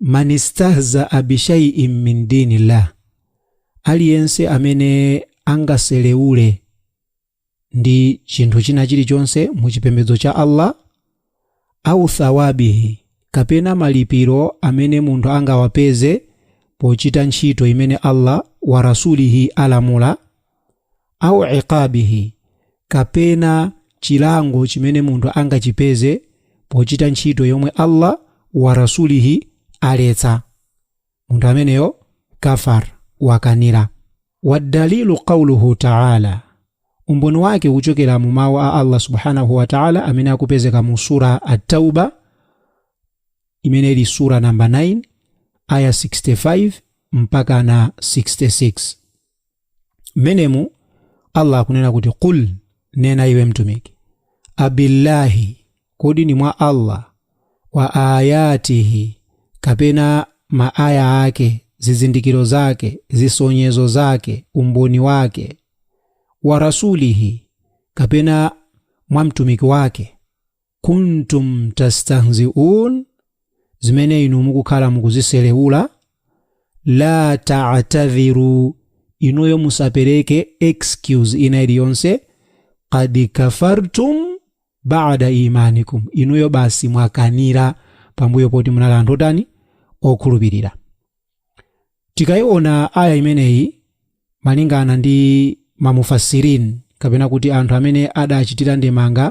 man istahzaa bishaiin min dinillah aliyense amene angaseleule ndi chinthu china chilichonse mu chipembedzo cha allah au thawabihi kapena malipiro amene munthu angawapeze pochita ntchito imene allah wa rasulihi alamula au iqabihi, kapena chilango chimene munthu angachipeze pochita ntchito yomwe Allah wa Rasulihi aletsa, munthu ameneyo kafar, wakanira. Waddalilu qauluhu taala, umboni wake ukuchokera mu mawu a Allah subhanahu wa ta'ala amene akupezeka mu sura At-Tauba imene ili sura namba 9 aya 65 mpaka na 66. mmenemu allah akunena kuti qul nena iwe mtumiki abillahi kodi ndi mwa allah wa ayatihi kapena ma aya ake zizindikiro zake zisonyezo zake umboni wake wa rasulihi kapena mwa mtumiki wake kuntum tastahziun zimene inu mukukhala mukuziselewula la ta'tadhiru inuyo musapereke excuse ina iliyonse qad kafartum ba'da imanikum inuyo basi mwakanira pambuyo poti munali anthu otani okhulupirira Tikaiona aya imeneyi malingana ndi ma Mufassirin kapena kuti anthu amene adachitira ndemanga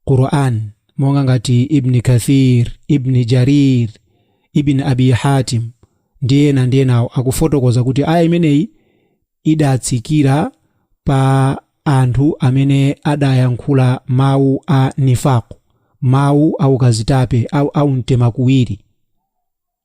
Qur'an monga ngati Ibni Kathir, Ibni Jarir, Ibn Abi Hatim ndi ena ndi enawo akufotokoza kuti aya imeneyi idatsikira pa anthu amene adayankhula mau a Nifaq, mau a ukazitape, a, a umtemakuwiri.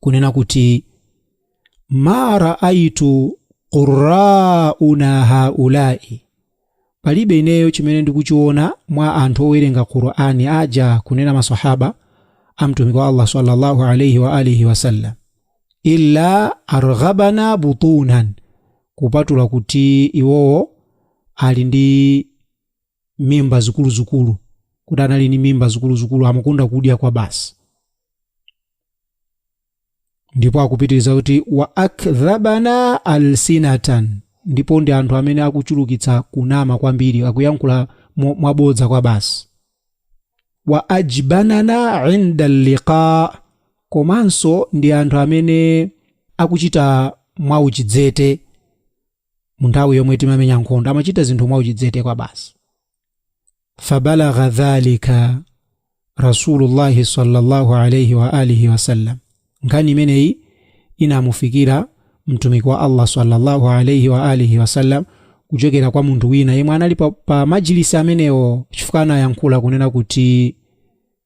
kunena kuti ma raaitu qurraana haulai palibe ineyo chimene ndikuchiona mwa anthu owerenga qur'ani aja kunena masahaba a mtumiki wa allah sallallahu alaihi wa alihi wasallam illa arghabana butunan kupatula kuti iwowo ali ndi mimba zikuluzikulu kuti anali ni mimba zikuluzikulu amakonda kudya kwa basi ndipo akupitiriza kuti wa akdhabana alsinatan ndipo ndi anthu amene akuchulukitsa kunama kwambiri akuyankhula mo- mwabodza kwa basi wa ajbanana inda liqa komanso ndi anthu amene akuchita mwauchidzete munthawi yomwe timamenya nkhondo amachita zinthu mwauchidzete kwa basi fabalagha dhalika rasulullahi sallallahu alaihi wa alihi wasallam nkhani imeneyi inamufikira mtumiki wa allah sallallahu alaihi wa alihi wasallam kuchokera kwa munthu wina yemwe anali pa, pa majilisi amenewo chifukwa anayankhula kunena kuti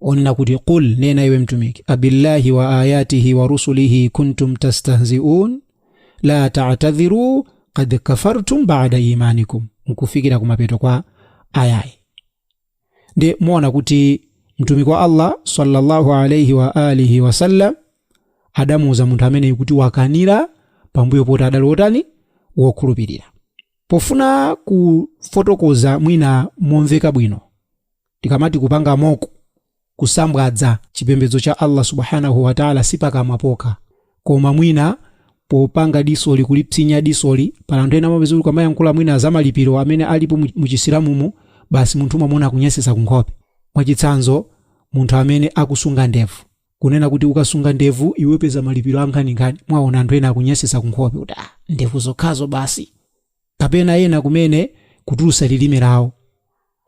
onena kuti qul nena iwe mtumiki abillahi wa ayatihi wa rusulihi kuntum tastahziun la tatadhiru kad kafartum bada imanikum nkufikira kumapeto kwa ayayi nde muona kuti mtumiki wa allah sallallahu alaihi wa alihi wasallam adamuuza munthu ameneyu kuti wakanira pambuyo poti adali wotani wokhulupirira pofuna kufotokoza mwina momveka bwino Tikamati kupanga mock, kusambwadza, chipembedzo cha Allah Subhaanahu wa Ta'ala si pakamwa pokha, koma mwina popanga diso ili kulipsinya diso ili, pali anthu ena amapeza kuti ukamayankhula mwina za malipiro amene alipo mu mu Chisilamumu, basi munthu umamuona akunyasitsa ku nkhope. Mwachitsanzo, munthu amene akusunga ndevu, kunena kuti ukasunga ndevu iwe upeza malipiro ankhaninkhani, mwaona anthu ena akunyasitsa ku nkhope kuti ah ndevu zokhazo basi. Kapena ena kumene kutulutsa lirime lawo.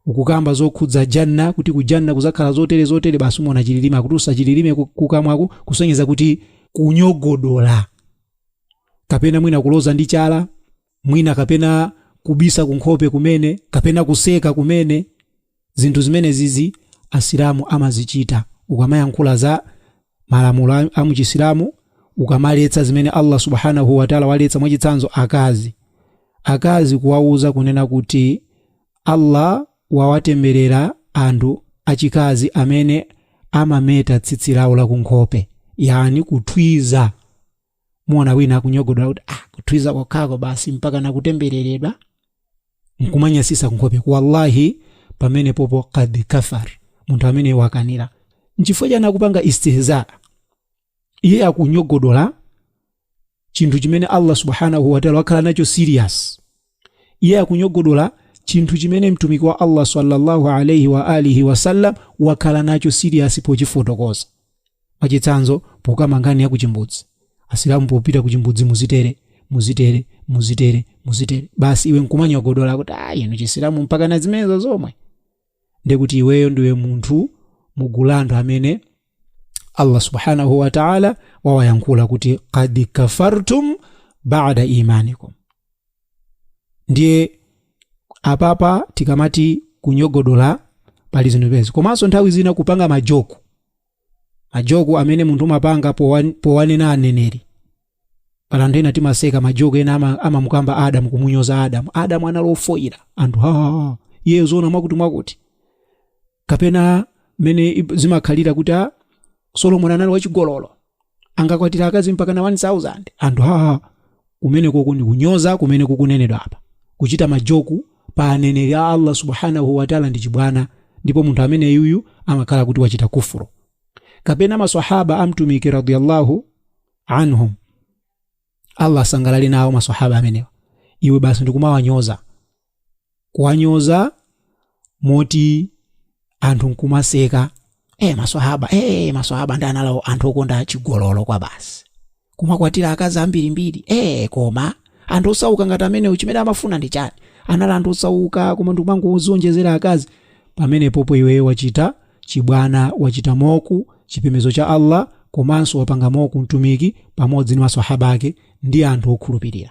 ukukamba zokhudza Jannah kuti ku Jannah kuzakhala zotere zotere basi umona chililime akutulusa chililime kukamwaku kusonyeza kuti kunyogodola kapena mwina kuloza ndi chala mwina kapena kubisa kunkhope kumene kapena kuseka kumene zinthu zimenezizi asilamu amazichita ukamayankhula za malamulo a- a muchisilamu ukamaletsa zimene allah subhanahu wataala waletsa mwachitsanzo akazi akazi kuwauza kunena kuti Allah wawatemberera anthu achikazi amene amameta tsitsi lawo la kunkhope, yaani kuthwiza. Muona wina akunyogodola kuti ah kuthwiza kokhako basi mpakana kutembereredwa? Nkumanyansitsa kunkhopeku. Wallahi pamenepopo qad kafar. Munthu ameneyu wakanira. Nchifukwa chani akupanga istihza? iye akunyogodola chinthu chimene allah subhanahu wataala wakhala nacho serious iye akunyogodola chinthu chimene mtumiki wa allah sallallahu alaihi wa alihi wasallam wakhala nacho serious pochifotokoza mwachitsanzo pokamba nkhani ya kuchimbudzi asilamu popita kuchimbudzi muzitere muzitere muzitere muzitere basi iwe nkumanyogodola kuti a inu chisilamu mpakana zimenezo zomwe ndiye kuti iweyo ndiwe munthu mugulu la anthu amene allah subhanahu wataala wawayankhula kuti kad kafartum bada imanikum ndiye apapa tikamati kunyogodola pali zinthu izi komanso nthawi zina kupanga majoku majoku amene munthu umapanga powan- powanena aneneri pali anthu ena timaseka majoku ena ama- amamukamba adamu kumunyoza adamu adamu anali ofoyira anthu ha eee zoona mwakuti mwakuti kapena mene ib- zimakhalira kuti a solomoni anali wachigololo anakwatira akazi mpakana 1000 anthu haa kumenekoko ndi kunyoza kumene kukunenedwa apa kuchita majoku pa aneneri a allah subhanahu wataala ndi chibwana ndipo munthu ameneyuyu amakhala kuti wachita kufuru kapena maswahaba amtumiki radiyallahu anhum allah asangalale nawo maswahaba amenewa iwe basi ndikumawanyoza kuwanyoza moti anthu nkumaseka e maswahaba e maswahaba ndi anali anthu okonda chigololo kwabasi kumakwatira akazi ambirimbiri e koma anthu osauka ngati amenewo chimene amafuna ndi chani anali anthu osauka koma ndikumangodziwonjezera akazi pamenepopo iweyo wachita chibwana wachita mock chipembedzo cha allah komanso wapanga mock mtumiki pamodzi ndi maswahaba ake ndi anthu okhulupirira